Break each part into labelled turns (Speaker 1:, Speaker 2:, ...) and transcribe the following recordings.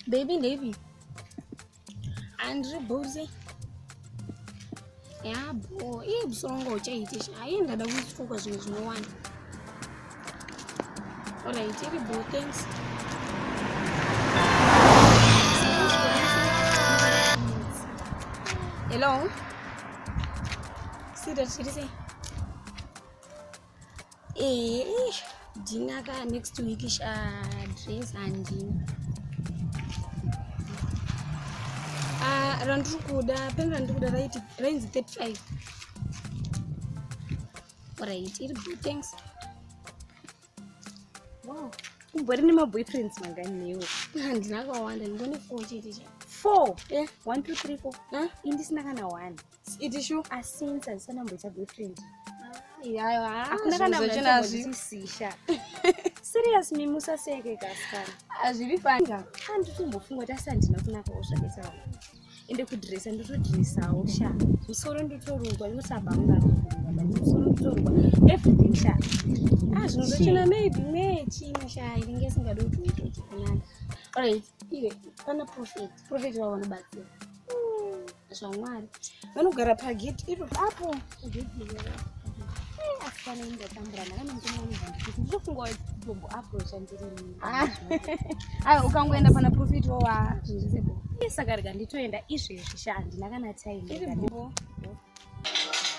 Speaker 1: Baby, baby. Andrew Bowser. yabo iye musoro wanga uchaitisha haiye ndada kuitikoka zvinhu zvinowanda olright iri bo thanks hello sida chiri sei Eh, Dina ka next week sha dress handina. Ah, randiri kuda, peni randiri kuda raiti rainzi 35. Alright, iri good, thanks.
Speaker 2: Wow, umbori nemaboyfriends mangani newe? Handina kawanda,
Speaker 1: ndingone four chete cha. Four?
Speaker 2: Eh, one, two, three, four. Huh? Indisina kana
Speaker 1: one.
Speaker 2: iti shu
Speaker 1: asinzi azisanamboita
Speaker 2: boyfriend iyayo
Speaker 1: hakuna kana
Speaker 2: mnazvisisha serious mi musaseke kasikana hazviri fanga
Speaker 1: handitombofungwa tasi
Speaker 2: handina kunakawo zvakaita vana ende kudresa ndotodresawo sha musoro ndotorungwa ndosabanga musoro ndotorungwa everything sha ah zvinozochena maybe me chini sha inenge isingadi kuti uite chikunana alright
Speaker 1: iwe pana profit profit vaona batsira zvamwari vanogara pageti iro apo
Speaker 2: asikana indatambura ndakanomutomaanezandikutindizofunga jombo apo chandirini ah.
Speaker 1: aiwa ukangoenda pana profit wowa zvinzisebo
Speaker 2: saka rega nditoenda izvezvi sha handina kana time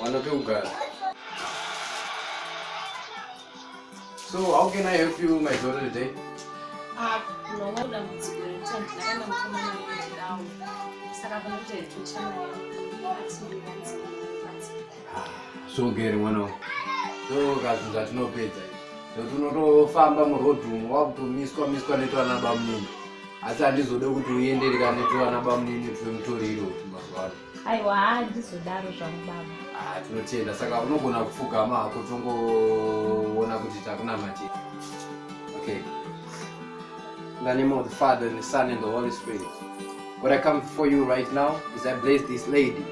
Speaker 3: Wana pekugara. So how can I help you my daughter today? Ah, no, no dambudziko rekuti ndakaenda mukomana wekudawo. Saka kunoita
Speaker 2: hedu
Speaker 3: channel so gere mwana wangu ndokazvinhu zvatinopedza nokuti unotofamba muroad umu wakutomiswa miswa netwana bamunini asi handizode kuti uendereka netwana bamunini tuve mutoriro mazuva ano aiwa
Speaker 2: haa ndizodaro zvangu baba ah, tinotenda
Speaker 3: saka unogona kupfugama hako tongoona kuti takunamatira okay in the name of the father and the son and the holy spirit what i come before you right now is i bless this lady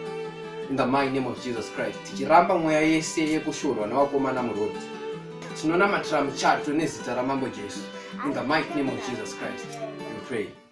Speaker 3: in the mighty name of jesus christ tichiramba mweya yese yekushorwa nevakomana muroti tinonamatira muchato nezita ramambo jesu in the mighty name of jesus christ we pray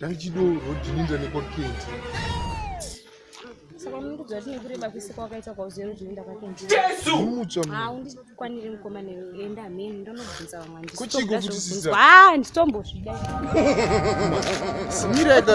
Speaker 2: Dai
Speaker 4: chido rodhininda nekwakenti.
Speaker 2: Saka munokudza kuti nekureba kwese kwakaita kwauziva rodhininda kwakenti. Jesu! Mutsva.
Speaker 4: Ah, undikwanire
Speaker 2: mukoma newe. Enda mheni ndonobvunza vamwe andisi. Kuchiko kuti sisi.
Speaker 4: Ah, nditombozvida. Simira eka.